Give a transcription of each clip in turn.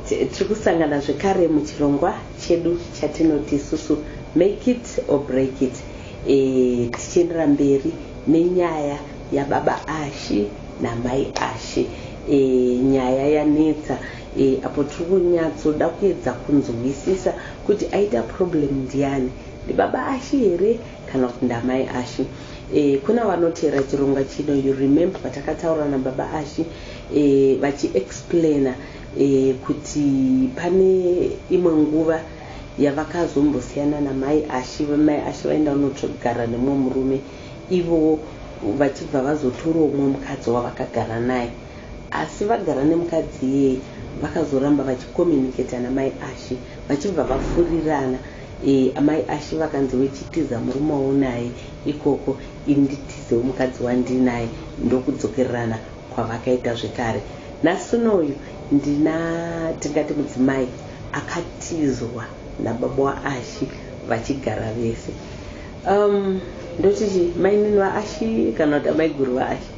Tiri kusangana zvekare muchirongwa chedu chatinoti isusu make it or break it e, tichiendera mberi nenyaya yababa Ashy namai Ashy e, nyaya yanetsa e, apo tiri kunyatsoda kuedza kunzwisisa kuti aita problem ndiani ndibaba Ashy here kana kuti ndamai Ashy e, kuna vanoteera chirongwa chino you remember patakataura nababa Ashy e, vachiexplainer kuti pane imwe nguva yavakazombosiyana namai Ashy, mai Ashy vaenda kunotsvogara nemumwe murume ivo vachibva vazotorawo umwe mukadzi wavakagara naye asi vagara nemukadzi iyeye vakazoramba vachicommunicator namai Ashy vachibva vafurirana amai Ashy vakanzi wechitiza murume waunaye ikoko ini nditizewo mukadzi wandinaye ndokudzokererana kwavakaita zvekare nhasi unoyu ndina tingati mudzimai akatizwa nababa waashi vachigara vese um, ndoti chi mainini vaashi kana kuti amaiguru vaashi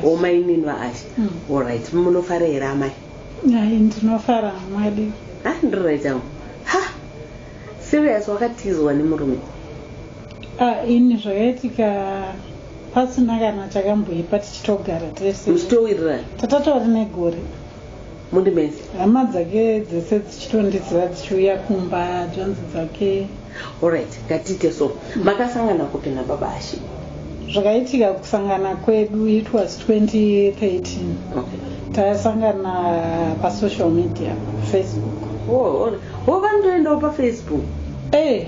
o mainini vaashi hmm. allright munofara here amai ndinofara mwadi ha ndiririt angu ha serious wakatizwa nemurume ah, ini zvakaitika Pasina kana chakamboipa tichitogara tese. Muchitowirirana. Tatatori negore. Mundi mese. Hama dzake dzese dzichitondiziva dzichiuya kumba dzvanzi dzake. Alright, ngatiite so. Makasangana kupi nababa Ashe? Zvakaitika kusangana kwedu it was 2013. Okay. Tasangana pa social media, Facebook. Oh, oh, oh vanotoendawo pa Facebook. Eh.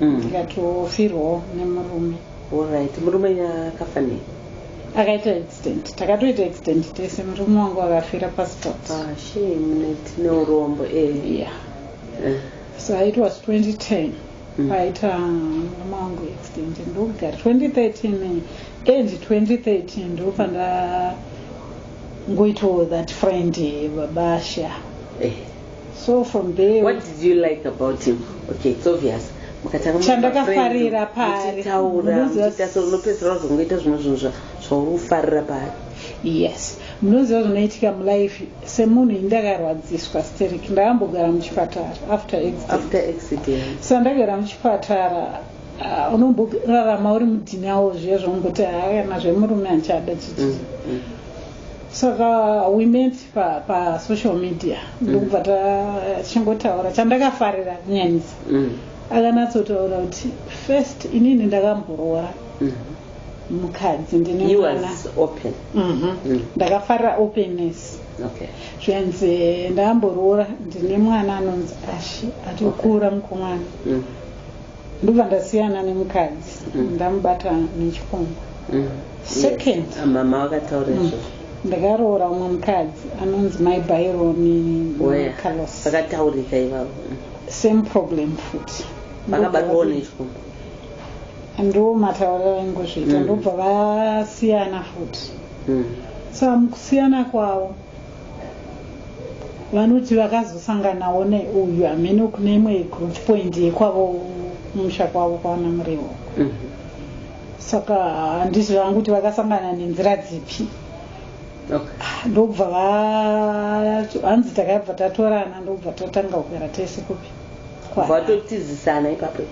mm. tikatofirwawo nemurume orit murume akafa nei akaita accident takatoita accident tese murume wangu akafira pasport ah, neurombo eh. yeah. Eh. so it was 2010 mm. paita murume wangu accident ndogara 2013 and 2013 ndopanda ngoitawo that friend babasha eh. so from there what did you like about him okay it's obvious chandakafarira paariunopedzisira wazongoita zvimwe zvinhu zvauri kufarira paari yes munoziva zvinoitika mulife semunhu ini ndakarwadziswa steric ndakambogara muchipatara after accident so ndagara muchipatara ah, unomborarama uri mudhinawo zviya zvaungoti haana zvemurume achada chichi mm, mm. saka we met pa, pa social media ndokubva tachingotaura chandakafarira kunyanyisa Mm. akanatsotaura kuti first inini ndakamboroora Mm. mukadzi ndine He mwana was open. Mhm. Mm. ndakafarira openness Okay. zvikanzi ndakamboroora ndine mwana anonzi ashi atokura mukomana Mm. ndobva ndasiyana nemukadzi mm. ndamubata nechikomba mm. second ah, mama vakataura mm. izvozvo ndakaroora umwe mukadzi anonzi mai baironi carlos vakataurika ivavo same problem futi vakabatwawo nechikomba ndo matauriro aingozviita ndobva vasiyana futi so amukusiyana kwavo vanoti vakazosanganawo neuyu hameno kune imwe group point yekwavo kumusha kwavo kwaana murewo mhm. saka handiti zvangu kuti vakasangana nenzira dzipi ndobva hanzi takabva tatorana ndobva tatanga kugara tese kupi vatotizisana ipapo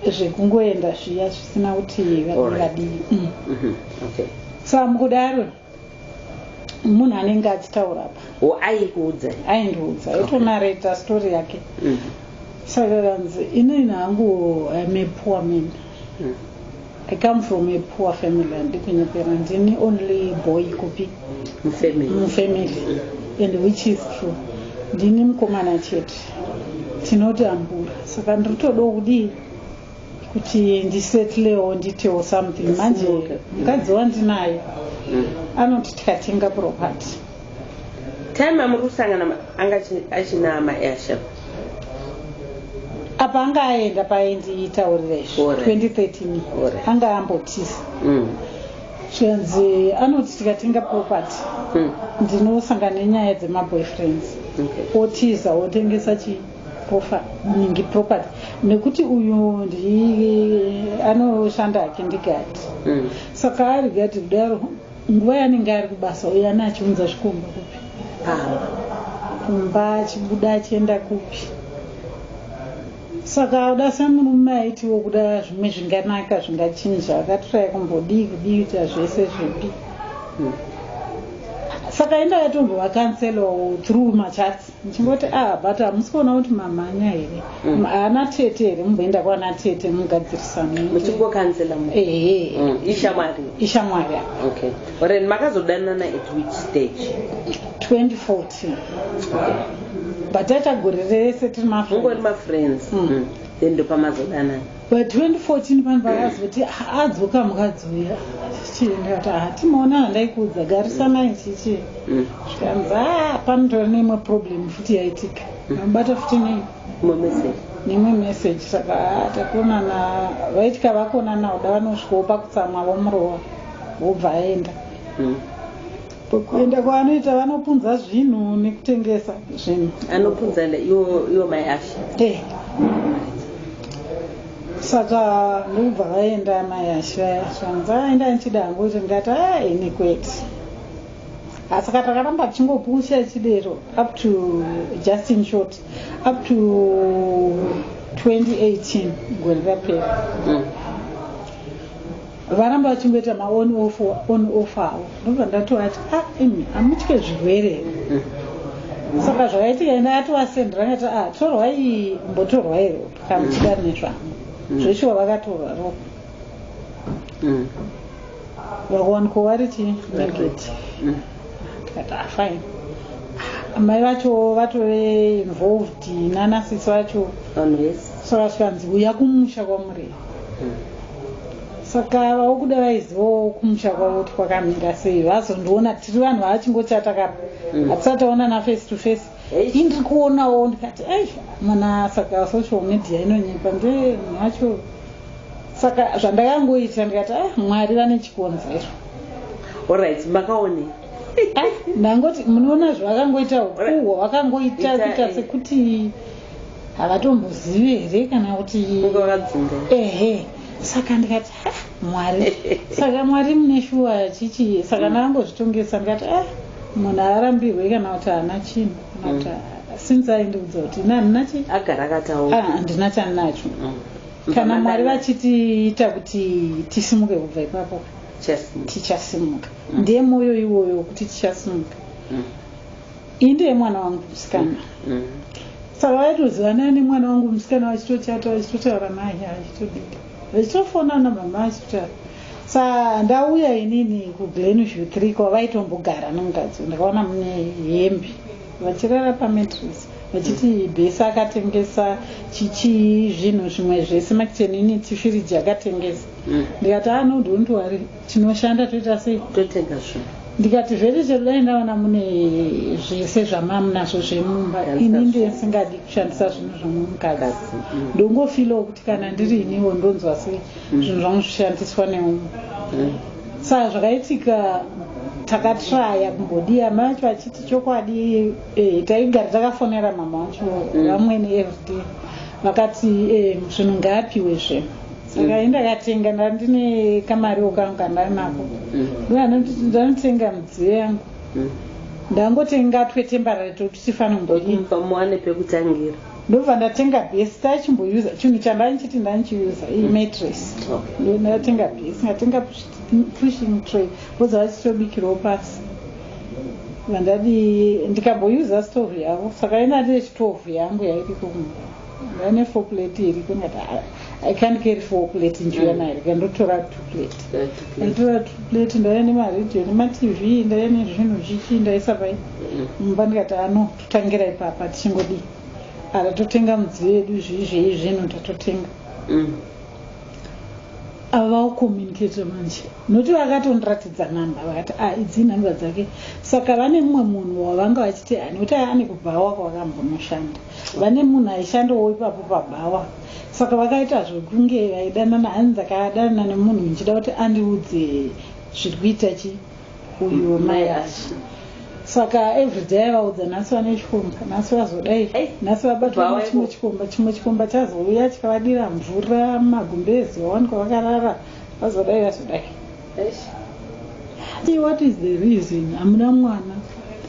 zvekungoenda zviya zvisina kuti vadii vadii mm. mhm. sa mukudaro munhu anenge achitaura apa o aikuudza aindiudza aitonareta okay. story yake mm. saka kanzi inini hangu im a poor man mm. i come from a poor family handikunyepera ndini only boy kupi mufamily mm. and which is true ndini mukomana chete tinoti ambura saka ndiri todo kudii kuti ndisetlewo nditewo something manje mukadzi wandinaye mm. anoti tikatenga property time amuri kusangana anga achina maasha apa anga aenda paindiitaurira izvo 2013 anga ambotisa mm. zvikanzi anoti tikatenga property mm. ndinosangana nenyaya dzemaboyfriends otiza otengesa chii Profa, nyingi property nekuti uyu ndi anoshanda hake ndigati mm. saka ari gati kudaro nguva yanenge ari kubasa uyo ane achiunza zvikomba kupi aa kumba achibuda achienda kupi saka uda semurume aitiwo kuda zvimwe zvinganaka zvingachinja akatiraya kumbodii kudii kuita zvese zvipi mm. saka inda yatombovakanselawo through machats ndichingoti ah but hamusi kuona kuti mamhanya here mm. haana tete here mumboenda kwana tete mugadzirisanomuchingokanzela ehe mm. ishamwari ishamwari okay ren makazodanana at which stage 2014 but taita gore rese tiri mafriends mm. then ndopamazodanana pa 2014 panhu vakazoti adzoka mukadzi uya chichiendati hatimaona ah, handaikuudza garisanai chichi mm. zvikanzi a ah, panotora neimwe problem futi yaitika mm. nobata futi nei nemwe message saka ah, takonana vaitika vakonana uda vanosvikawo pakutsamwa vomurova vobva aenda mm. Kuenda kwaanoita vanopunza zvinhu nekutengesa zvinhu. Anopunza iwo mai Asha. Eh. Saka ndobva vaenda mai Asha shanza aenda ndichida hangu kuti ndikati ah ini kwete. Asi ka takaramba tichingopusha chidero up to just in short up to 2018 gore rapera. Mm. Varamba vachingoita ma on off on off awo ndobva ndatovati a ah, imi hamutye zvirwere here saka zvakaitika ende atovasendera ngati a ah, torwai mbotorwai ropa kana muchida rine zvangu mm. zveshuwa vakatorwa ropa mm. vakuwanikwa vari chii negative mm. tikati a ah, fine amai vacho vatove involved nanasisi vacho so vasikanzi uya kumusha kwamurei saka vakuda vaizivawo kumusha kwavo kuti kwakamira sei vazondiona tiri vanhu vavachingochata kapa mm. hatisati taonana face to face indiri kuonawo ndikati ai mwana saka social media inonyepa ndemunhu wacho saka zvandakangoita ndikati a ah, mwari vane chikonzero orit makaone ah, ndangoti munoona zvawakangoita ukuhwa wakangoita kuita sekuti havatombozivi here kana kuti ehe saka ndikati ah, mwari saka mwari mune shuwa chichi saka ndakangozvitongesa ndikati ah, munhu arambirwe kana kuti haana chinhu kana kuti mm. since aindiudza kuti ina handina chi agara akataura ah, handina chandinacho mm. kana mwari vachitiita kuti tisimuke kubva ipapo tichasimuka mm. ndiye mwoyo iwoyo wekuti tichasimuka iyi ndeye mwana wangu musikana mm. saka vaitoziva nani mwana wangu musikana vachitochata vachitotaura naye achitodika vachitofona namama achitotaura sa ndauya inini kuglenview three kwavaitombogara nomukadzi ndakaona mune hembe vachirara pamatris vachiti bhesi akatengesa chichii zvinhu zvimwe zvese makichenini tifiriji akatengesa mm. ndikati anodontiwari ah, tinoshanda toita sei totega zvinhu ndikati zvese chekudai ndaona mune zvese zvamamunazvo zvemumba ini ndisingadi kushandisa zvinhu zvemumukadzi mm. ndongofilawo kuti kana ndiri iniwo ndonzwa se mm. zvinhu zvangu zvishandiswa neumwe mm. sa zvakaitika takatraya kumbodiya mai acho achiti chokwadi eh, taigara takafonera mama wacho vamwene everyday vakati eh, zvinhu ngaapiwe zve saka enda katenga ndandine kamariwo kangu kandari nako mm. ndanotsenga midziyo yangu mm. ndangotenga twetembarary tokuti tifanongoipa muwane pekutangira ndobva ndatenga bhesi tachimboyuza chinhu chandanichiti ndanichiyuza iyi mm. matress ndatenga bhesi ndatenga pushing tray voza vachitobikirawo pasi vandadi ndikamboyuza stove yavo saka inati yechitove yangu yairiko ndaine foplate iriko ndati i can't carry four plate njuya mari mm. kandotora two plate kandotora two plate ndaiya nemaradio nematv ndaiya nezvinhu zvichi ndaisa pai mm. mumba ndikati ano totangira ipapa tichingodii ara totenga mudziyo yedu zvii zvei zvinhu tatotenga mm. ava vakucommunicata manje nokuti vakatondiratidza namba vakati a ah, idzii namba dzake saka vane mumwe munhu wavanga vachiti ani kuti ane kubhawa kwavakambonoshanda vane munhu aishandawo ipapo pabhawa saka vakaita zvekunge vaidanana hanzi ndakadanana nemunhu ndichida kuti andiudze zviri kuita chi uyu mai ashi saka everyday aivaudza nhasi vane chikomba nhasi vazodai nhasi vabatwa nechimwe chikomba chimwe chikomba chazouya chikavadira mvura magumbezi vawanikwa vakarara vazodai vazodai Hey, what is the reason hamuna mwana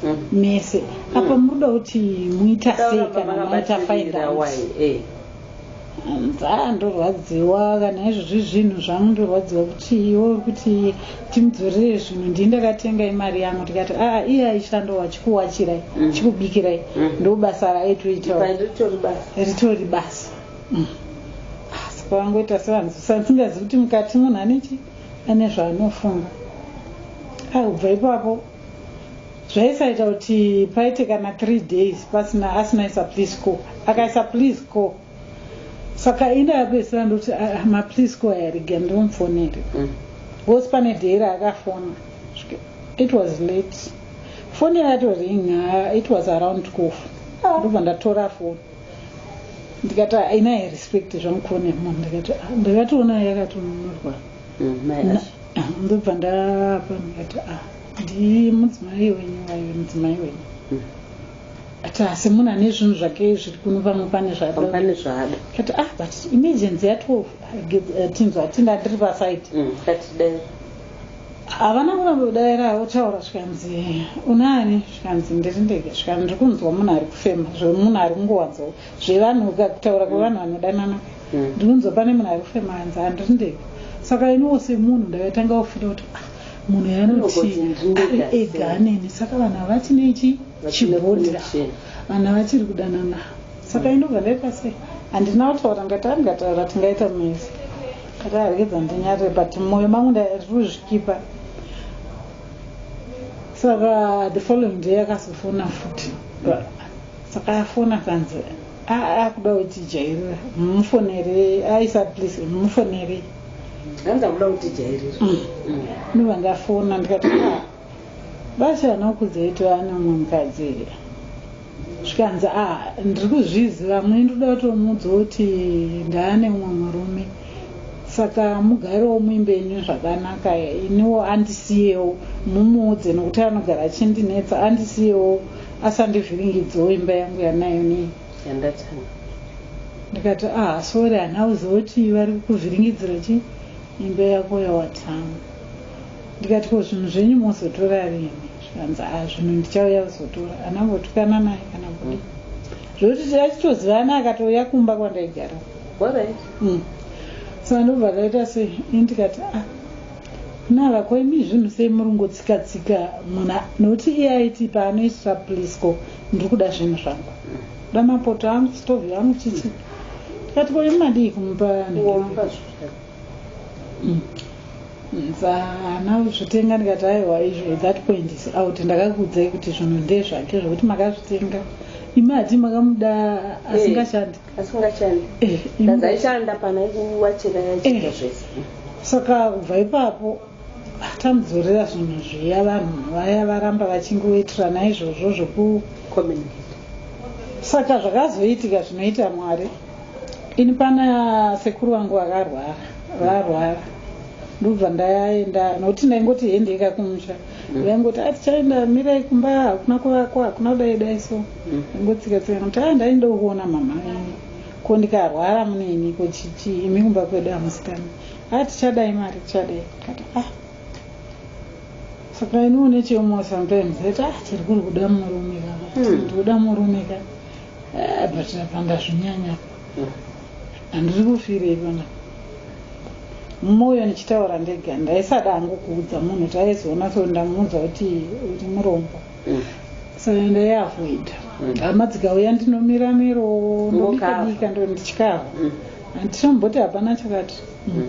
hmm. mese hmm. apa muruda kuti muita sei kana maita findouts nzaa ndorwadziwa kana izvozvi zvinhu zvangu ndorwadziwa kuti iwe uri kuti timudzorere zvinhu ndii ndakatenga imari yangu tikati aa ah, iye aishando wachikuwachirai mm. chikubikirai mm. ndobasa raitoita ritori basa mm. asi pavangoita sevanhu sansingazi kuti mukati munhu anechi ane zvaanofunga ai kubva ipapo zvaisaita kuti paite kana three days pasina asina isa please co akaisa please co saka ina yapesera ndoti ah, ah, maplease co ayariga ndimufonere mm. bcause pane day raakafona it was late foni yatoring ah, it was around cof ndobva ndatora foni ndikati haina ah, respect zvamukuona mom ndikati ah, ndakatoona yakatonunurwa mm, ah, ndobva ndapa ndikati a ndi mudzimai wenyu wayo mudzimai wenyu mm. ati asi munhu ane zvinhu zvake zviri kuno pamwe pane zvadapane zvada kati ah but emergency ya twelve tinzwa tinda ndiri paside mm, havana kuramba kudaira havo taura zvikanzi unani zvikanzi ndiri ndege zvikanzi ndiri kunzwa munhu ari kufema zvemunhu ari kungowanzo zvevanhu ka kutaura kwevanhu vanodanana mm. ndiri kunzwa pane munhu ari kufema anzi handiri ndege saka iniwo semunhu ndakatanga kufira kuti ah, munhu yanoti ari ega aneni saka vanhu havati nechi chibhodira vanhu havachiri kudanana saka mm. inobva ndaita sei handina kutaura ndati andingataura tingaita mese Ndakaregedza ndinyarire but moyo mangu ndari kuzvikipa. Saka the following day akazofona futi. Saka afona kanzi akuda kuti jairira mufonere aisa please mufonere. Hanzi akuda kuti jairira. Mm. Mm. Ndovandafona ndikati ah, Basa anokuzoitwa nemumwe mukadzi here zvikanzi ah ndiri kuzviziva mune ndoda kutomuudza kuti ndaa nemumwe murume saka mugarewo muimbe ini zvakanaka iniwo andisiyewo mumuudze nokuti anogara achindinetsa andisiyewo asandivhiringidzewo imba yangu yanayo nei ndikati ah sorry hanauziva kuti vari kukuvhiringidzira chii Imba yako yawatanga. Ndikati ko zvinhu zvenyu mozotora rini zvikanzi ah zvinhu ndichauya kuzotora anangotukana naye kana kudii zvokuti achitozivana akatouya kumba kwandaigara mm. sa ndobva taita sei ini ndikati ah kunava ko imi zvinhu sei muri ngotsika tsika muna nokuti iye aiti paanoisira plisco ndiri kuda zvinhu zvangu kuda mapoto angu stovi yangu chichi ndikati ko imi madii kumupa zana kuzvitenga ndikati aiwa izvo at that point is out ndakakuudzai kuti zvinhu ndezvake zvekuti makazvitenga imi hati makamuda eh, asingashandi asingashandi eh, ndazaishanda pana kuwachira yachiita eh, zvese saka kubva ipapo tamudzorera zvinhu zviya vanhu vaya varamba vachingoitirana izvozvo zvoku saka zvakazoitika zvinoita mwari Ini pana sekuru vangu vakarwara varwara ndobva ndaenda nokuti ndaingoti hendeika kumusha mm. vaingoti ati ah, chaenda mirai kumba hakuna kuvakwa hakuna kudai dai so mm. ngotsika tsika kuti a ah, ndainda kuona mama venyu ko ndikarwara muneni ko chichi imi kumba kwedu hamusikani a ah, tichadai mari tichadai kati a saka iniwo nechemo sometimes ati a tiri kuri kuda murume ka hmm. ndikuda murume ka Ah, but apa ndazvinyanya handiri kufirei pana mumoyo ndichitaura ndega ndaisada hangu kuudza munhu kuti aizoona so ndamuudza kuti uri murombo Mm. so ndaiavoida Mm. hama dzikauya ndinomira miro Ngokava. ndobikabika ndo ndichikava Mm. handitomboti hapana chakati Mm.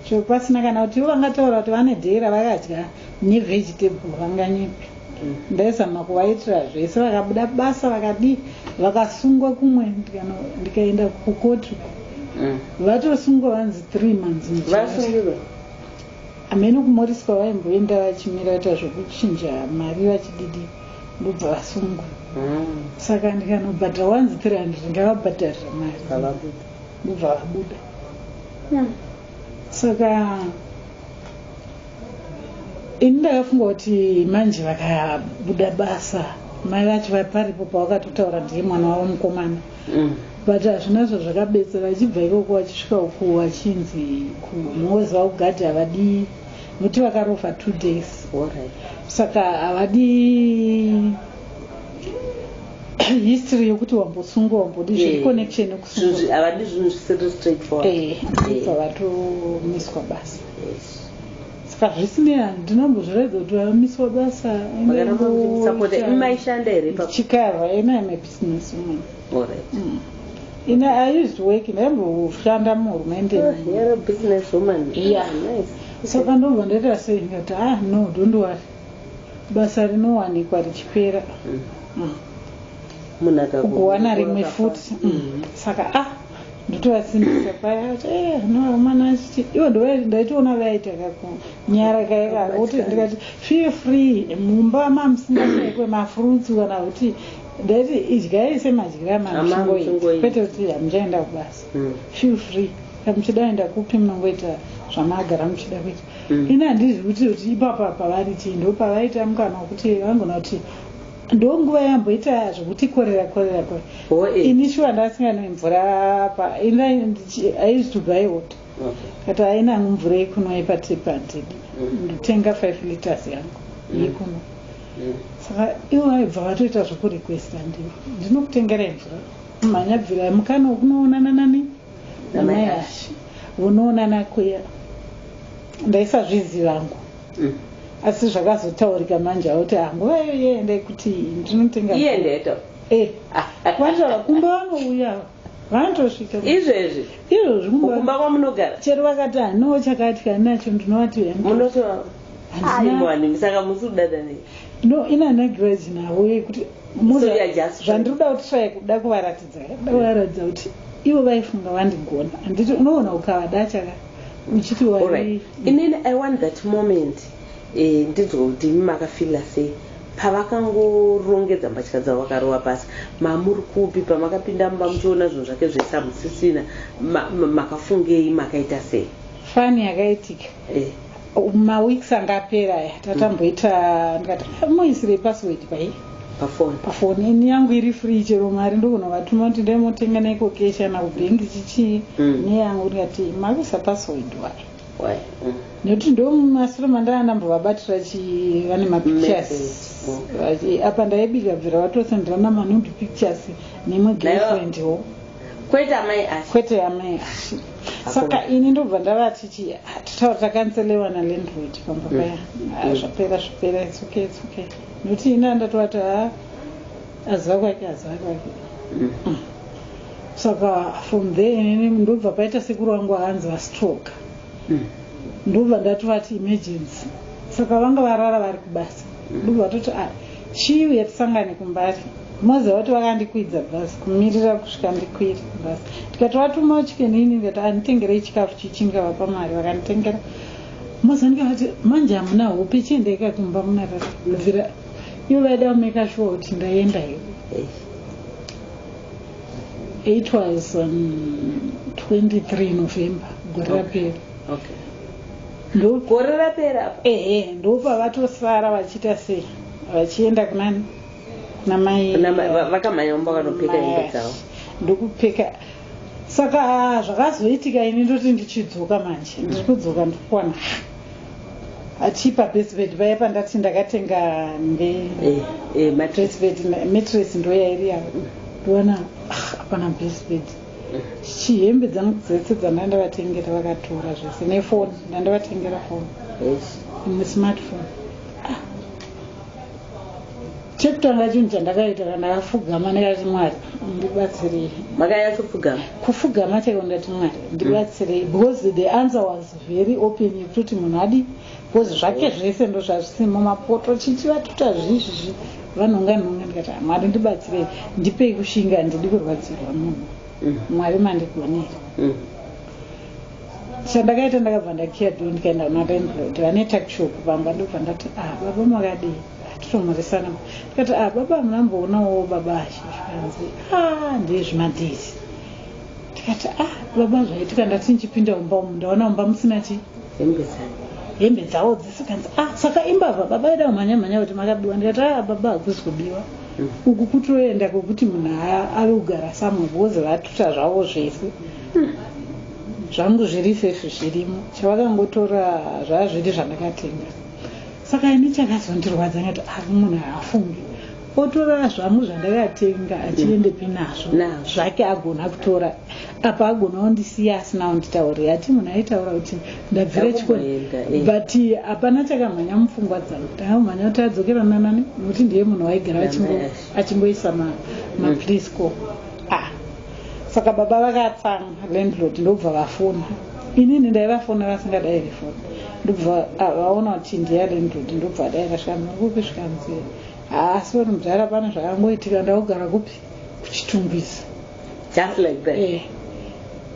so pasina kana kuti ivo vangataura kuti vane dhera vakadya ne vegetable vanganyepe ndaizama kuvaitira zvese vakabuda basa vakadii vakasungwa kumwe ndikaenda kukoti uko mm. vatosungwa vanzi three months vasungirwa amene kumoriswa vaimboenda vachimira vaita zvekuchinja mari vachididi ndobva vasungwa mm. saka ndikanobhadhara wanzi three hundred ngavabhadharira mari ndobva vabuda mm. saka ini ndakafunga kuti manje vakabuda basa mai vacho vaparipo pavakatotaura ndiye mwana wavo mukomana mm. but hazvina zva zvakabetsera vachibva ikoko vachisvika uku vachinzi kumhozi vakugadhi havadii nokuti vakarofa two days saka havadii history yokuti wambosunga wambodi zviri eh, connection yokusungaavadi zvinhu zvisiri straightforward eh, eh. vatomiswa basa Ska zvisinei handinambozviraidza kuti vamiswa basa maishanda here chikava ena ime business woman alright mm. In a, I used to work in every ushanda muhurumende. Oh, you're a business woman. Yeah. Ah, nice. So okay. pandobva ndaita sei ndikati ah no don't worry. Basa rinowanikwa richipera. Mm. Mm. Munhu akakuwana rimwe futi. Mm. mm. Saka ah ndotovasimbisa paya eh, noamana achiti ivo ndaitoona vaita kakunyara kaye kakuti ndikati feel free mumba mamusingaekwe mafruits kana kuti ndaiti idyai semadyira mamusungoi kwete kuti hamuchaenda kubasa hmm. feel free kamuchida enda kupi munongoita zvamagara muchida kuita hmm. ini handizvi kuti kuti ipapa pavari chii ndo pavaita mukana wekuti vangona kuti ndonguva yamboita zvokutikorera korera kwe ini shuwa ndasinganwe mvura apa ini aizi to buy water kati aina hangu mvura yekunwa yepatipa handidi mm. ndotenga five liters yangu mm. yekunwa mm. saka ivo vaibva vatoita zvokurequesta ndivo ndinokutengerai mvura mhanya bvira mukano kunoonana nani namai ashi vonoonana kuya ndaisazvizivangu asi zvakazotaurika manje auti ah, nguva iyo yeendai kuti ndinotenga iyendeto eh, kwatava kumba vanouya vanotosvika izvezvi izvozvi kumba kwamunogara chero vakati hanoo chakati kani nacho ndinovati munotoaimwani saka musi kudada nei no ina nagiraji navo yekuti zvandiri kuda kuti trai kuda kuvaratidza kuda kuvaratidza kuti ivo vaifunga vandigona handiti unoona ukavada chakati uchiti wari inini i want that moment eh, ndinzwa kuti imi makafila sei pavakangorongedza mbatya dzavo vakarova pasi mamuri kupi pamakapinda mumba muchiona zvinhu zvake zvese hamusisina makafungei makaita sei fani yakaitika eh. maweeks anga apera aya tatamboita ndikati moisirei password pai pafoni pafoni ini yangu iri free chero mari ndogona vatuma kuti ndai motenga naiko keshi kana kubhengi chichii mm. neyangu ndikati makuisa password wai why mm. nekuti ndo masure mandanga ndambovabatira chi vane mapictures mm. apa ndaibika bvira vatosendera namanude pictures nemwe girlfriend wo kwete amai ashi kwete amai ashi saka ini ndobva ndavati chi ah, titaura takanselewa nalandroid pamba paya mm. ah, zvapera zvapera it's okay it's okay Ndotii ina ndatovati haa aziva kwake aziva kwake mm. saka from there inini ndobva paita sekuru vangu vahanzi vastroke mm. ndobva ndatovati emergency saka vanga varara vari kubasa mm. ndobva vatoti a chii uye tisangane kumbari moziva kuti vakandikwidza bhasi kumirira kusvika ndikwiri bhasi ndikatovatuma chikenini ndikati anditengerei chikafu chichingavapa mari vakanditengera Mazandika vati manje hamuna hope chiendai ka kumba munarara bvira ivo vaida kumeka shuwa kuti ndaenda here it was um, 23 november gore rapera okay. ndogore rapera ehe ndopavatosara vachiita sei vachienda kunani kunamai vakamhanya umba vanopfeka hembe dzavo ndokupfeka saka zvakazoitika ini ndoti ndichidzoka manje mm. ndiri kudzoka ndikukwana achipa besbed vaya pandati ndakatenga ndematresbed eh, eh, matres ndoyairi yavo ndiwana ah, apana besbed chihembe dzangu dzese dzandanga ndavatengera vakatora zvese nefoni ndandavatengera foni nesmartphone chekutanga chinhu chandakaita kana afugama ndikati mwari ndibatsirei makayachofugama kufugama chaiko ndikati mwari ndibatsirei mm. because the answer was very open yekutoti munhu adi because zvake zvese ndo zvazvisimo mapoto chichi vatuta zvizvizvi vanhonga nhonga ndikati ah, mwari ndibatsirei ndipei kushinga ndidi kurwadzirwa munhu mm. mwari mandigonera mm. chandakaita ndakabva ndakiya do ndikaenda kuna landlord vane takshop vamba ndobva ndati a ah, baba makadii titomhoresana ndikati a ah, baba munamboonawo baba ashe zvikanzi a ah, ndiye zvimadhisi ndikati a baba zvaitika ndati ndichipinda umba umu ndaona umba musina chi hembe dzawo dzese kanzi a saka imbavha baba ida kumhanya mhanya kuti makabiwa ndikati a baba hakusi kubiwa mm. uku kutoenda kwekuti munhu ave kugara samwe bhozi vatuta zvavo zvese mm. zvangu zviri safe zvirimo chavakangotora zvazviri zvandakatenga saka ini chakazondirwadza ngati ari munhu haafungi otora zvangu zvandakatenga achiendepi nazvo zvake agona kutora apa agona ondisiya asina onditaurira ati munhu aitaura kuti ndabvira chikoni eh. but hapana chakamhanya mupfungwa dzangu ndakamhanya kuti adzokera nanani nokuti ndiye munhu waigara achingoisa maprisco mm. saka baba vakatsamwa landlord ndobva vafona inini ndaivafonera vasingadairi foni ndobva ah, vaona kuti ndiya landlord ndobva adaira shamuri kupi zvikanzi haa sori mudhara pane zvakangoitika ndakugara kupi kuchitungwiza just like that eh,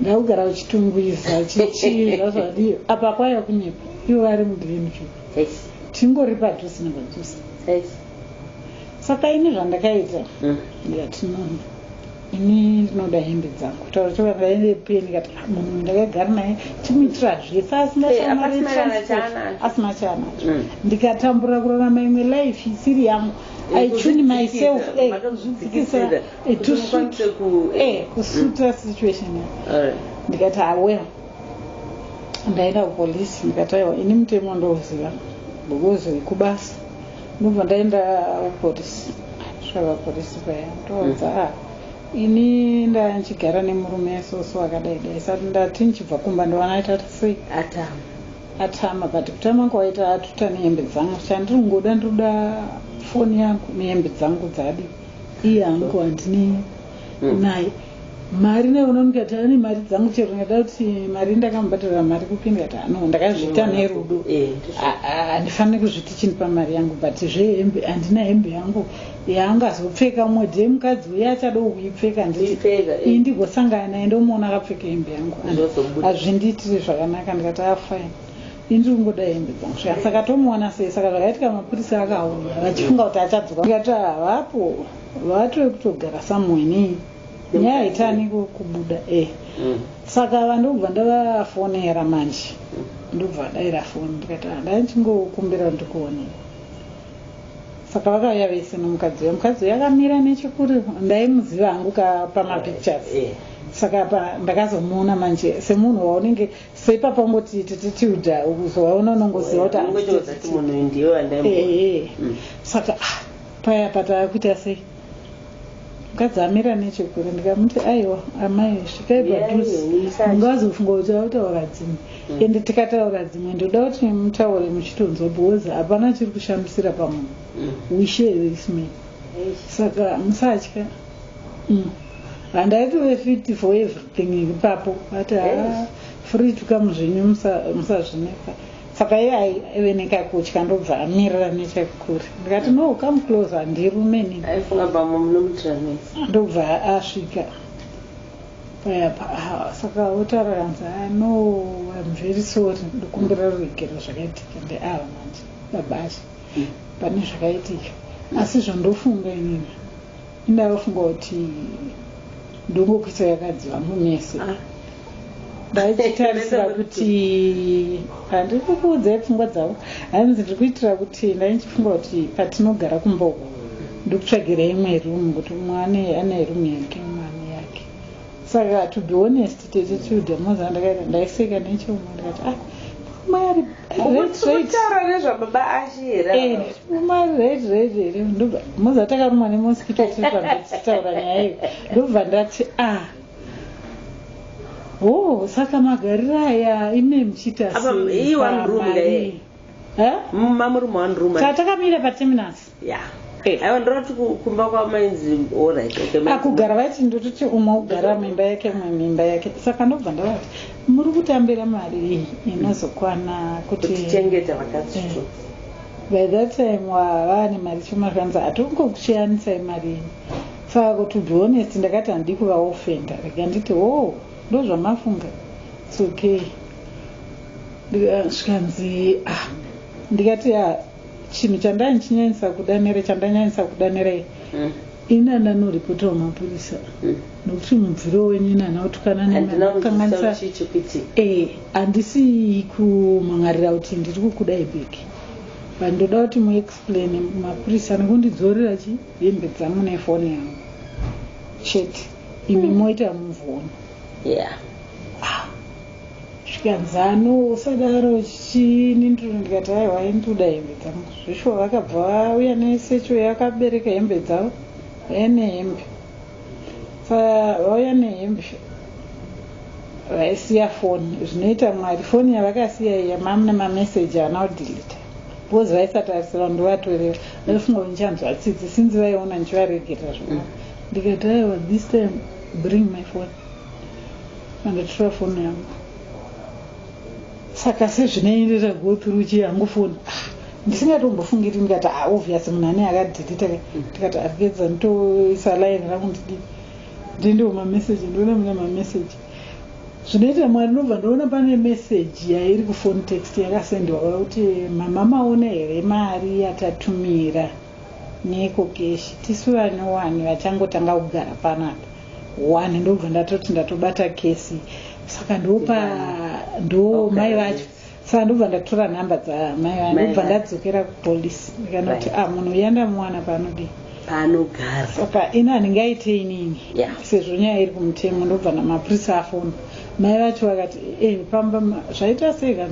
ndakugara kuchitungwiza chichii zvazvadii apa kwaiva kunyepa ivo vari mudinju yes tingori padhusi nepadhusi yes saka ini zvandakaita mm. ndikati nono ini ndinoda hembe dzangu kutaura chokwadi ndaive peni ndikati ah, munhu ndakagara naye timuitira zvese asingaasina chaanacho mm. ndikatambura kurarama imwe life isiri yangu ichuni myself eh, kuzvidzikisa eh, eh, kusuta mm. situation ndikati awel ah, ndaenda kupolisi ndikataiwa ini mutemo ndouziva bokozoikubasa ndobva ndaenda kuporisi kusvika porisi paya ndoudza mm. ah, ini ndandichigara nemurume soso akadai dai sati ndati ndichibva kumba ndovana aita kuti sei atama atama but kutama kwawaita atuta nehembe dzangu chandiri kungoda ndinoda foni yangu nehembe dzangu dzadi iye angu handine mm. naye mari ndaiona ndikati ane mari dzangu chero ndada kuti mari ndakamubhadharira mari kupi ndikati ano ndakazviita nerudo eh, handifaniri kuzviti chindipa mari yangu but zvehembe handina hembe yangu yaanga azopfeka mumwe dee mukadzi uye achada kuipfeka ndii eh. ndigosangana naye ndomuona akapfeka hembe yangu hazvindiitiri zvakanaka ndikati afine ah, Ini ndiri kungoda hembe dzangu sha saka tomuona sei saka zvakaitika mapurisa akauya vachifunga kuti achadzoka ikati havapo vatove kutogara somewhere nei nyaya haitani kubuda e saka ava ndokubva ndavafonera manje ndokubva vadaira foni ndikati handai ndichingokumbira ndikuonei saka vakauya vese nomukadzi uya mukadzi uya akamira nechekuri ndaimuziva hangu ka pamapictures saka apa ndakazomuona manje semunhu waunenge Sepa pangoti tete Tilda ukuzowaona unongoziva kuti anongotoza kuti munhu uyu ndiye wandaimu. Ehe. Mm. Saka ah paya patakuita sei? Mukadzi amira nechekure ndikamuti aiwa amai svikai padhuze. Mungazofunga kuti vakutaura dzimwe. Mm. Ende tikataura dzimwe ndoda kuti mutaure muchitonzwa because hapana chiri kushamisira pamunhu. Mm. We share this man. Saka musatya. Mm. Handaitove fit for everything ipapo. But uh, yes. free to come zvenyu musazvinetsa. Musa saka iye aive nekakutya ndobva amirira nechekure ndikati no come close handirume nindobva asvika payapa ah, saka otaura kanzi ah, no im very sorry ndokumbira ruregero zvakaitika ndeava ah, manje babasha pane zvakaitika asi zvandofunga inini Ini ndaifunga kuti ndongokuisa yakadziva mumese ah. ndaitarisira kuti handiri kukuudzai pfungwa dzavo hanzi ndiri kuitira kuti ndaichifunga kuti patinogara kumboko ndikutsvagira imwe rumu kuti mwana ane rumu yake mwana saka to be honest tete tilda moza ndakaita ndaiseka nechomo ndikati ah mari retrataura nezvababa ashi here eh, mari retrate here ndobva moza takarumwa nemoskito tiri pametichitaura nyaya iyo ndobva ndati ah o oh, saka magariro aya ime muchiita seiwa mrumga e mmamurume wanruma tatakamira pateminasi Yeah. Eh, aiwa ndinoti kumba kwamainzi orit akugara ah, vaiti ndototi umwe ogara mimba yake umwe mimba yake saka ndobva ndavati muri kutambira mari iyi inozokwana kutichengeta vakati eh. by that time vava nemari choma zvanzi hatongokuchiyanisai mari ini saka kuti be honest ndakati handii kuvaofenda rega nditi wo oh, ndozvamafunga its okay zvikanzi ah ndikati ya ah, chinhu chandai ndichinyanyisa kuda nere chandanyanyisa kuda nerei mm. inana noripota wamapurisa mm. nokuti mubviro wenyu inana otukana nekanganisa eh, handisi kumhangarira kuti ndiri kukudai beki but ndoda kuti muexplain mapurisa nekundidzorera chi hembe dzangu nefoni yangu chete imi mm. moita muvoni yeah. Zvikanzi Anu usadaro chii nindru ndikati aiwa ainduda hembe dzangu zveshuwa vakabva vauya nesecho yakabereka hembe dzavo vauya nehembe sa vauya nehembe vaisiya foni zvinoita mwari foni yavakasiya iya mam nemameseji ana kudhilita because vaisatarisira ndovatorera vaifunga kuti ndichanzwa tsitsi sinzi vaiona ndichivaregerera zvona ndikati aiwa this time bring my foni Ndandotora foni yangu saka sezvinoenderera go through uchi yangu foni ah, ndisingatombofungiri ndikati ah, obvious munhu ane akadhilita ke ndikati arikeza nditoisa line rangu ndidi ndindiwo mameseji ndiona mune mameseji zvinoita mwari ndobva ndoona pane meseji yairi kufoni text yakasendiwa kuda kuti mama maone here mari yatatumira neko keshi tisu vane wani vachangotanga kugara panapa one ndobva ndatoti ndatobata kesi saka ndopa ndo mai vacho saka ndobva ndatora nhamba dzamai vacho ndobva ndadzokera kupolice ndikanoti a ah, munhu uya ndamuwana paanodii paanogara saka ini handinge aite inini sezvo nyaya iri kumutemo ndobva namapurisa afona mai vacho vakati e pamba zvaita sei ka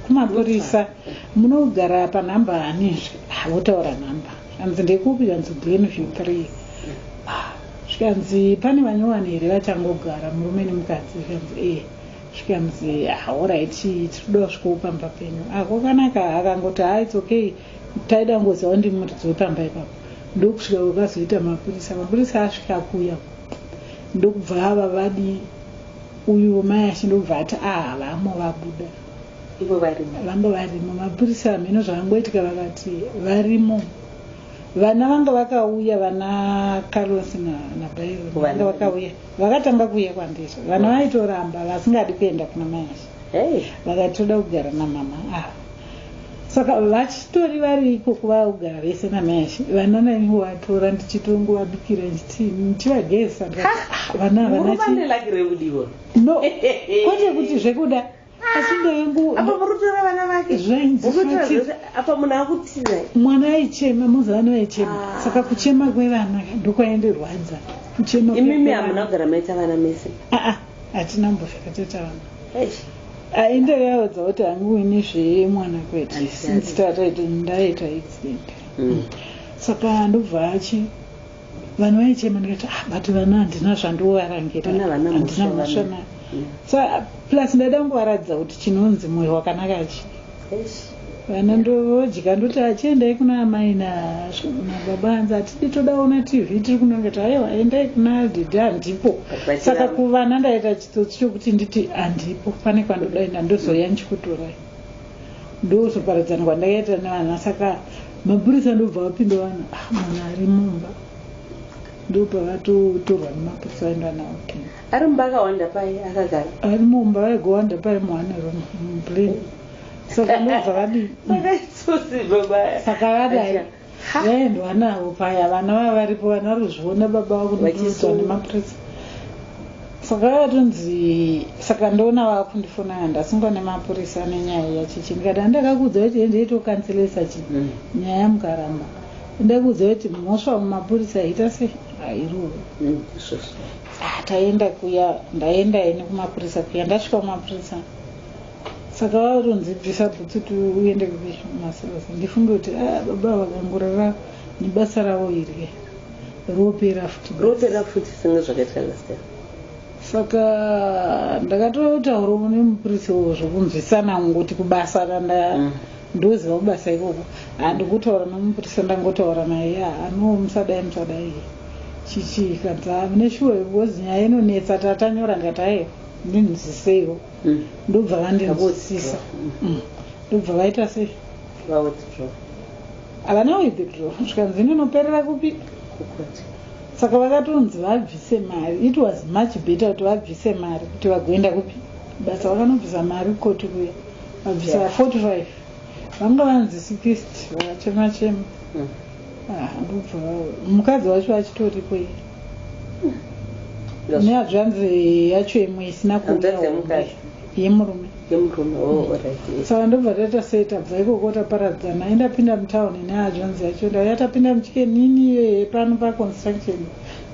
kumapurisa munogara panhamba hanizve ah, votaura nhamba hanzi ndekupi hanzi glenview three ah, zvikanzi pane vanyowani here vachangogara murume nemukadzi zvikanzi ee eh. zvikanzi hauraiti ah, tinoda kusvikawo pamba penyu ako ah, kanaka akangoti ha ah, its okay taida kungoziva kuti ndimuridzo wepamba ipapo ndokusvika kwakazoita mapurisa mapurisa asvika kuya ndokubva ava vadi uyu mai ashe ndokubva ati ahavamo vabuda ivo varimo vanga varimo mapurisa hameno zvakangoitika vakati varimo vana vanga vakauya vana carlos nabairo vanga vakauya vakatanga kuuya kwandiri vana vaitoramba vasingadi kuenda kuna mayashi vakati toda kugara namama ava saka vachitori vari ikoko vakugara vese namayashi vana naivo vatora ndichitongovabikira ndichivagezisa vana havana no kwete kuti zvekuda asi ndoyangu apa murutora vana vake zvainziapa munhu akutiza mwana aichema muzano aichema ah. saka kuchema kwevana ndokwaendirwadza kuchema imimi hamuna kugara maita vana mese aa ah, ah, hatina mbozvakatoita vana aende yaudza kuti hangu ini zvemwana kwete since tataita ndaita accident mm. saka ndobva achi vanhu vaichema ndikati ah but vana handina zvandovarangira handina mhosva nayo mm. so plus ndaida kungovaratidza kuti chinonzi mwoyo wakanaka chi vana ndodya ndoti achiendai kuna amai nababa anzi hatidi todaona tv tiri kunongeti aiwa endai kuna didi handipo saka kuvana ndaita chitsotsi chokuti nditi handipo pane kwandodaenda ndozoya ndichikutorai Ndokuzoparadzana kwandakaita nevana saka mapurisa ndobva vapinda vanhu ah, mwana ari mumba ndopavatotorwa nemapurisa vaenda nawo kina ari mumba akawanda pai akagara ari mumba vaigowanda pai muhane room mumplane saka ndobva vadii saka vadai vaendwa navo paya vana vava varipo vana ruzviona baba vakunotoitwa nemapurisa saka vatonzi saka ndoona vakundifona ya ndasungwa nemapurisa nenyaya yachichi ndikati andakakuudza kuti endeitokanzelesa chi mm. nyaya mukaramba ndakuudza kuti mhosva mumapurisa yaita se airuu mm, ah, taenda kuya ndaenda ini kumapurisa kuya ndasvika kumapurisa saka vatonzi bvisa bhutsu kuti uende kumasirasi ndifunge kuti ah, baba vakangorara nebasa ravo iri ropera futi ropera futi singe zvakaita last time saka ndakatotaurawo nemupurisi wo zvokunzwisana ngoti kubasa kanda mm. ndoziva kubasa ikoko handikutaura nemupurisa ndangotaura naye ya ano musadai musadai chichii kanza mune shuwa because nyaya inonetsa tatanyora ndikati aye ndinzwiseiwo mm. ndobva vandinzwisisa mm. ndobva vaita sei havana withdraw zvikanzi ndinoperera kupi saka vakatonzi vabvise mari it was much better kuti vabvise mari kuti vagoenda kupi basa vakanobvisa mari kukoti kuya vabvisa yeah. 45 vanga vanzi sikist vakachema chema mm. ah, ndobva mukadzi wacho vachitoripo iye nehazvanzi yacho imwe isina kuuyayemurumesaka oh, mm. ndobva taita sei tabva ikoko taparadzana indapinda mutown nehazvanzi yacho ndayatapinda muchike nini iyoye pano paconstruction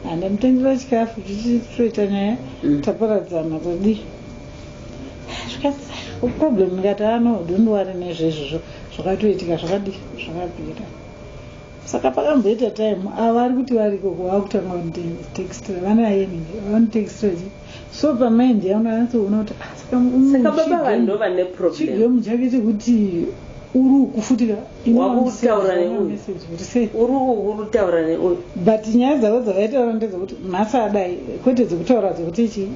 handamutengera chikafu chichitoita nyaya mm. taparadzana tadii problem ikati ano ah, dondwari nezvezvozvo zvakatoitika zvakadii zvakapera saka pakamboita time ava vari kuti variko kuvakutanga vanotextra vanayeni vanotextra chi so pamind yaona anatsoona kuti ah, saka baba vanhu vane problemchigemu chake chekuti uri uku futi urikutaura neuyu but nyaya dzavo dzavaitaura ndedzekuti nhasi adai kwete dzekutaura dzekuti chii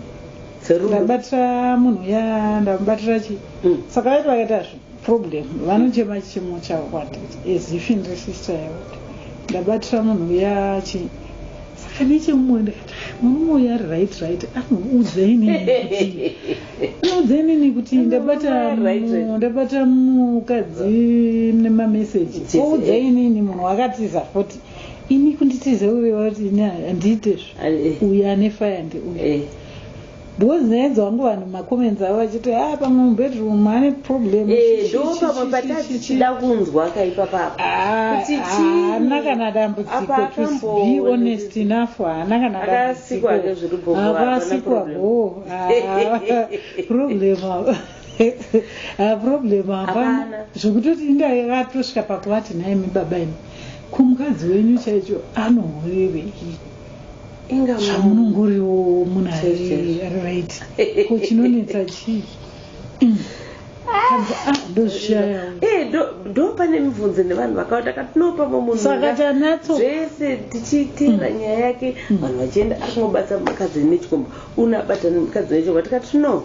ndabatira munhu ya ndamubatira chii mm. saka vaiti vakaita zvo Problem vanochema chimo chavo kwandiri as if ndiri sister yavo ndabatira munhu uya chi saka nechemumwe ndikati "Ah, murume uya ari right right anoudzaini kuti anoudzainini kuti ndabata Murume ari right, right. mu- ndabata mukadzi nemameseji Yes, oudzainini munhu wakatiza futi ini kunditiza uve wati ini handiite zvo Eh, eh. uyu ane faya ndeuyu Eh, Because ndinoedza wangu vanhu mumacomments avo vachiti a ah, pamwe mubedroom ane problem eh, do pamwe patatichida kunzwa kaipapaa ah, haana kana dambudziko tobe honest enough haana kana dambudzikoavasikwa bo problem problem hapana zvekutoti indaatosvika pakuvati nhaimi baba ini kumukadzi wenyu chaicho anohorevei zvamunongoriwo munhu ari right ko chinonetsa chii mm. ah, ah, eh, ndo pane mibvunzo nevanhu vakawanda katinopamo munhuzvese tichiitira mm. nyaya yake mm. vanhu vachienda akungobatsa mukadzi nechikomba unabatana mukadzi nechikomba tikati no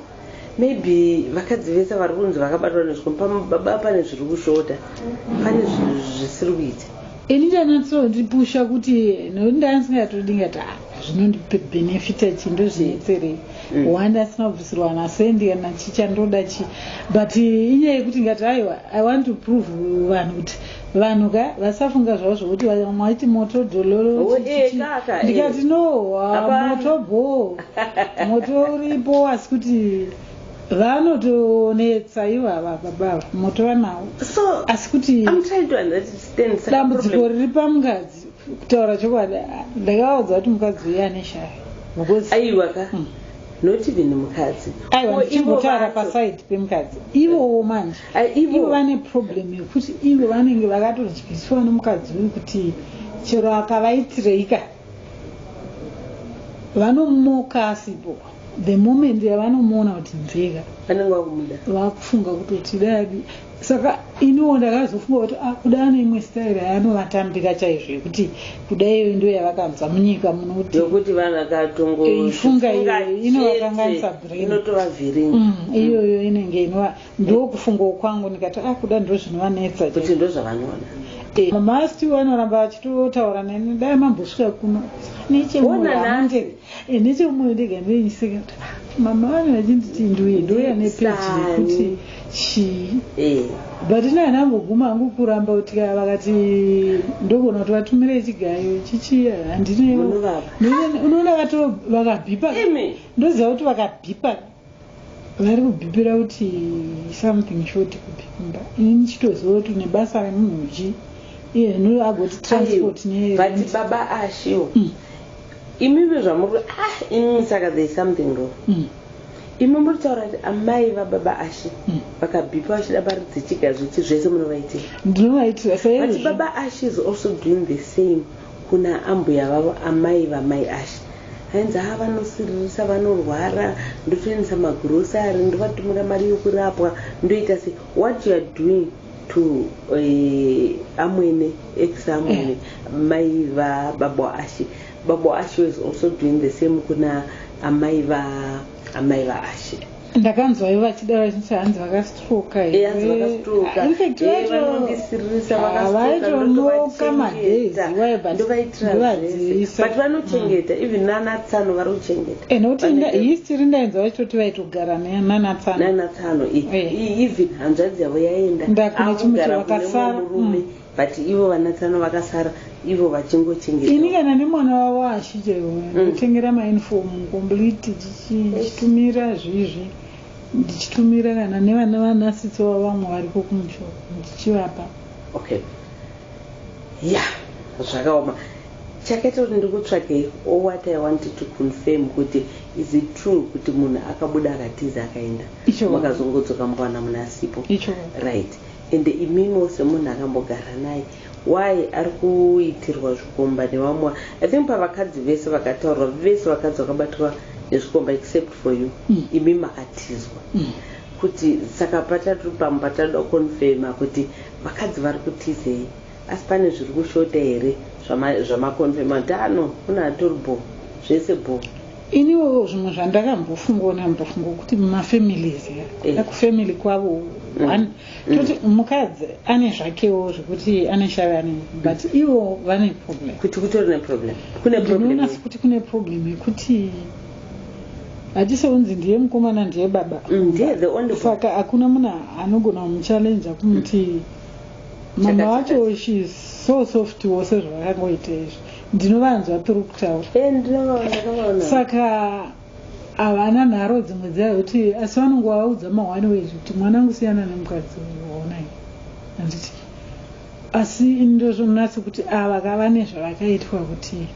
Maybe vakadzi vese vari kunzi vakabatwa nezvikomba pamwe baba pane zviri kushota, pane zvisiri kuita. Ini chanatsoondipusha kuti nokuti ndanga ndisingatoda ndingati ah, zvinondibenefita chii ndozvinetserei mm. one ndasi mabvisirwa nasendi kana chichandoda chii but inyaya yekuti ngati aiwa i want to prove vanhu kuti vanhu ka vasafunga zvavo zvokuti maiti moto dololo ndikati no moto bho moto uripo asi kuti vanotonetsa ivo ava baba ava moto vanawo asi kuti dambudziko riri pamukadzi kutaura chokwadi ndakavaudza kuti mukadzi uye ane shaya aiwa ka mm. not even mukadzi aiwa ndichingotara paside pemukadzi ivowo manje ivo vane problem yekuti ivo vanenge vakatodyisiwa nemukadzi uyu kuti chero akavaitireika vanomoka asipo the moment yavanomuona kuti nzeka vanenge vakumuda vakufunga kutoti dai Saka iniwo ndakazofunga kuti ah, kuda ane imwe style yaanovatambira chaizvo yekuti kuda iyoyo ndo yavakanzwa munyika muno kuti yokuti vanhu vakatongo Eh, ifunga iyo, zvifunga inovakanganisa chete, brain. inotovavhiringa Mm, iyoyo inenge inova ndokufungawo kwangu ndikati ah kuda ndo zvinovanetsa kuti chaizvo." ndo zvavanoda Eh, mama stu anoramba achitotaura neni dai mambosvika kuno Ona nhasi. nechemoamundei Eh, nechemumwe ndega ndeinyiseka kuti ah, mama vane vachinditi nduye ndouya nepeji yekuti chii eh. but ina ndangoguma hangu kuramba kuti ka vakati ndogona kuti vatumire chigayo chichiya handineunoona vato vakabhipa ndoziva kuti vakabhipa vari kubhibhira kuti something short kubhibhimba ini ndichitoziva kuti une basa remunhu ji iye zvino agoti transport but baba ashiwo mm. imive zvamuri ah imi saka there is something wrong mm. imi muri taura kuti amai vababa ashe mm. vakabhipa vachida mari dzechiga zvechi zvese munovaitira ndinovaitira saizvi baba ashe is also doing the same Kuna ambuya vavo amai vamai Ashy ainzi haa vanosiririsa vanorwara ndotoendesa magrocery ndovatumira mari yokurapwa ndoita sei what you are doing to uh, amwene ex amwene mai va babo Ashy babo Ashy was also doing the same kuna amai va amai va Ashy ndakanzwa ivo vachidaro vachinzi hanzi vakastroka vaitonoka madays iwaebutvadziisabut vanochengeta mm. even nanatsano vari kuchengeta eh, nokuti history ndainzwa vachitoti vaitogara nanatsano even hanzvadzi yavo yaenda ndakune chimwe chavakasara But ivo vana tsano vakasara ivo vachingochengeta. Ini kana nemwana wavo ashi chero ndotengera mm. mauniform complete chichitumira zvizvi ndichitumira kana nevana vanasitsi wavo vamwe variko kumusho ndichivapa. Okay. Yeah, zvakaoma. Chakaita kuti ndikutsvakei or what I wanted to confirm kuti is it true kuti munhu akabuda akatiza akaenda makazongodzoka mukawana munhu asipo. Icho. Right. Ende imimo semunhu akambogara naye why ari kuitirwa zvikomba nevamwe i think pavakadzi vese vakataurwa vese vakadzi vakabatwa nezvikomba except for you mm. imi makatizwa mm. kuti saka patatu pamba tatoda confirma kuti vakadzi vari kutizei Asi pane zviri kushota here zvama zvama confirma tano kuna atori bho zvese bho. Iniwo zvimwe zvandakambofungawo ndambofungawo kuti mumafamilies ya Eh. like family kwavo Mm. one toti mukadzi ane zvakewo zvekuti ane shavi ane but ivo vane problem Kuti kutori neproblem. Kune problem. ndinoona sekuti kune problem yekuti hatisounzi ndiye mukomana ndiye baba Mm, Ndiye the only one. saka hakuna munhu anogona kumuchallenja kumuti Mama wacho she is so soft wo sezvavakangoita izvi ndinovanzwa tiri kutaura eh, saka havana nharo dzimwe dzaya kuti asi vanongo vaudza mahwani wezvi kuti mwana angu siyana nemukadzi waonai handiti asi ndozvonatsi kuti ava kava nezvavakaitwa kuti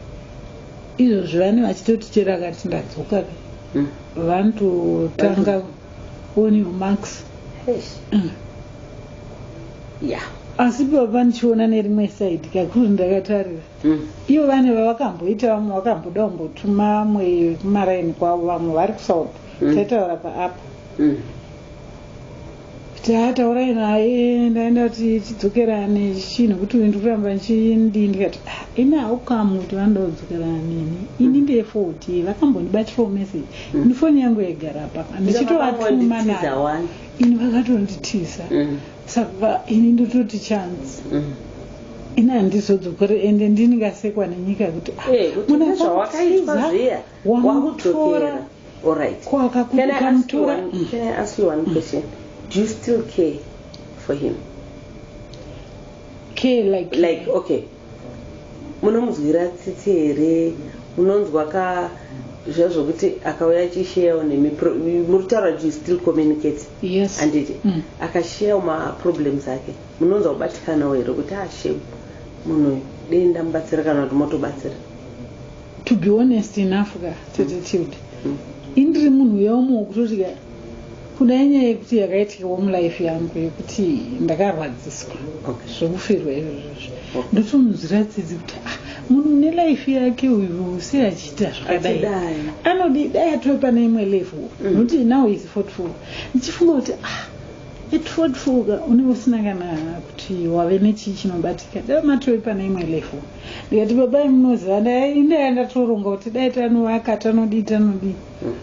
izvozvi vane vachitoti chero akati ndadzoka ka mm. vanototanga mm. on your marks Eish. Mm. yeah asi baba ndichiona nerimwe side kakuru ndakatarira mm. ivo vane vavakamboita vamwe vakamboda kumbotuma amwe kumaraini kwavo vamwe vari kusouth Mm. taitaura paapa mm. Taa taurai naye ndaenda kuti tidzokerane chii nokuti uyu ndikuramba ndichindii ndikati ah, ini haukamu kuti vanoda kudzokerana neni ini mm. ndeye foti vakambondibatirawo message mm. ini foni yangu yaigara papa ndichitovatuma navo ini vakatonditiza mm. saka ini ndototi chance ini handizodzokore ende ndinikasekwa nenyika kuti ah, eh, munazvawakaitwa zviya wamutora alright ko akakutuka mutora mm. can i ask you one mm. question do you still care for him care like like okay munomunzwira tsitsi here munonzwa ka zviya zvokuti akauya achisheyawo nemi muri taura kuti still communicate yes anditi mm. akasheyawo maproblems ake munonzwa kubatikanawo here kuti ashem ah, munhu uyu dei ndamubatsira kana kuti motobatsira To be honest enough ka tete Tilde. Indiri munhu uya umwe wekutoti ka kuda inyaya yekuti yakaitikawo mulife yangu yekuti ndakarwadziswa Okay. zvekufirwa izvozvo Okay. ndotomunzwira tsitsi kuti ah, munhu une life yake uyu sei achiita zvakadai Achidai. anodi dai atove pane imwe level Mm. nokuti now is 44 ndichifunga kuti ah at 44 ka unenge usina kana kuti wave nechii chinobatika dai matove pane imwe level ndikati baba imunoziva ndai ndaya ndatoronga kuti dai tanovaka tanodii tanodii hmm.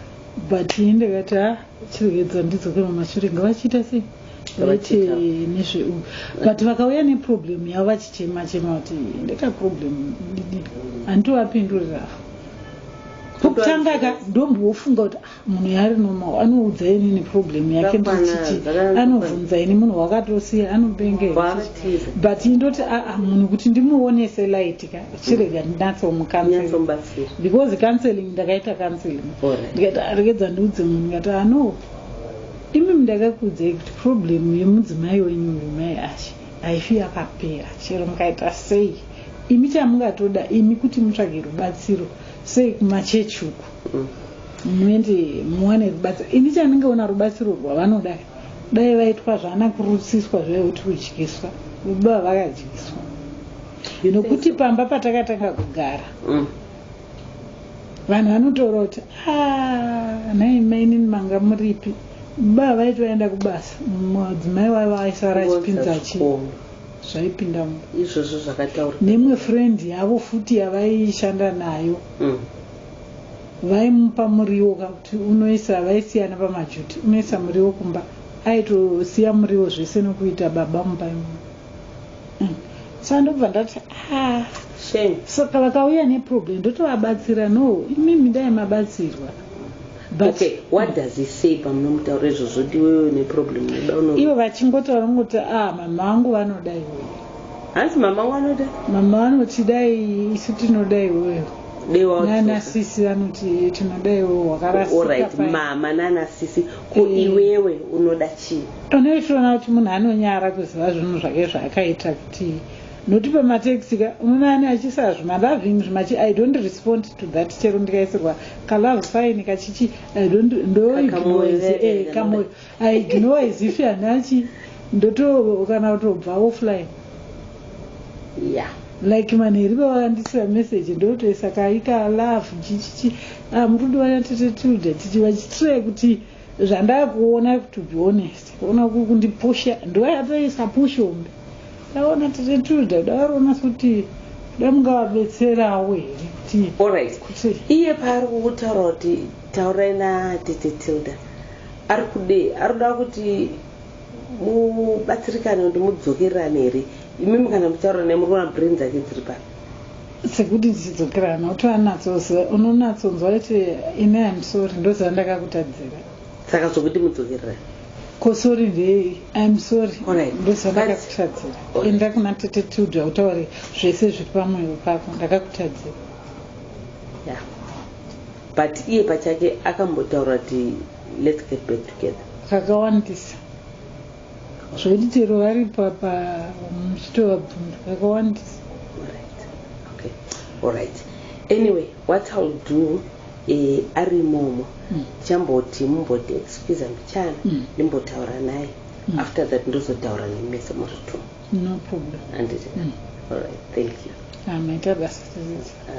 but ini ndikati ha chirwedza ndidzoke mamashure ngavachiita sei vaiti nezveu but vakauya neproblem yavo vachichema chema kuti ndekaproblem didi handitovapindurira kutanga ka ndombofunga kuti ah, munhu yaari normal anoudza inini problem yake ndichiti anobvunza ini munhu wakatosiya anobenge but indoti aa ah, ah, munhu kuti ndimuonese light ka chirega ndinatsomukanselbecause because counseling ndakaita counseling ndikati aregedza ah, ndiudze munhu ndikati ano imi mndakakuudzai kuti problem yemudzimai wenyu uyu mai ashe haifi yakapera chero mukaita sei imi chamungatoda imi kuti mutsvage rubatsiro sei kumachechi uku mm. muende muwane rubatsiro ini chandingaona rubatsiro rwavanoda dai vaitwa zvana kurutsiswa zvaye kuti kudyiswa baba vakadyiswa nokuti pamba patakatanga kugara mm. vanhu vanotaura kuti ah, nhai mainini manga muripi baba vaiti vaenda kubasa mudzimai waiva vaisara achipinza chi zvaipinda izvozvo zvakataura nemwe friend yavo futi yavaishanda nayo mm. vaimupa muriwo ka kuti unoisa vaisiyana pamajuti unoisa muriwo kumba aitosiya muriwo zvese nokuita baba mumba imomo mm. sa ndobva ndati ah, saka vakauya neproblem ndotovabatsira no imimi dai mabatsirwa Okay, what does he say pamunomutaura izvozvo kuti iwewe neproblem ivo vachingotaura ngoti ah mama vangu vanoda iwewe Hanzi mama wangu anoda? Mama vanoti dai isu tinoda iwewe. Dewa nana sisi vanoti tinoda iwewe wakarasika. All right, mama nana sisi ko eh. iwewe unoda chii? Unoitoona kuti munhu anonyara kuziva zvinhu zvake zvaakaita kuti noti pamateksi ka unoona ani achisa zvimaloving zvimachi i don't respond to that chero ndikaisirwa kalove sign kachichi i don't ndoignoise eh, kamoyo I ignore as if hanachi ndoto kana kutobva offline ya like manheri vavakandisira message ndotoisa kaika love chichichi ah, murudo wana tete tilda titi vachitire kuti zvandakuona to be honest ona kuri kundipusha ndoyatoisa push hombe ndaona tete tilda davaroona kuti damungavabetserawo here kuti iye paari kukutaura kuti taurai natete tilda Ari kudei? Ari kuda kuti mubatsirikane kuti mudzokererane here? Imimi kana muchitaura naye muri kuona brain dzake dziri papi? Sekuti tichidzokerana kuti anatsoziva unonatsonzwa kuti ini I'm sorry ndoziva ndakakutadzira. Saka zvokuti mudzokererane? Ko sorry ndeyei? I'm sorry Alright. ndoziva But- ndakakutadzira. Alright. Enda kuna tete Tilda utaure zvese zviri pamwoyo pako ndakakutadzira. Yeah. But iye pachake akambotaura kuti let's get back together. Kakawandisa. Zvokuti chero vari papa muchitovabvunza kakawandisa. Alright. Okay. Alright. Anyway, what I'll do eh, ari imomo mm. chamboti mumboti excuse me chana mm. ndimbotaura naye mm. after that ndozotaura nemese muri two no problem anditi mm. all right thank you amaita ah, basa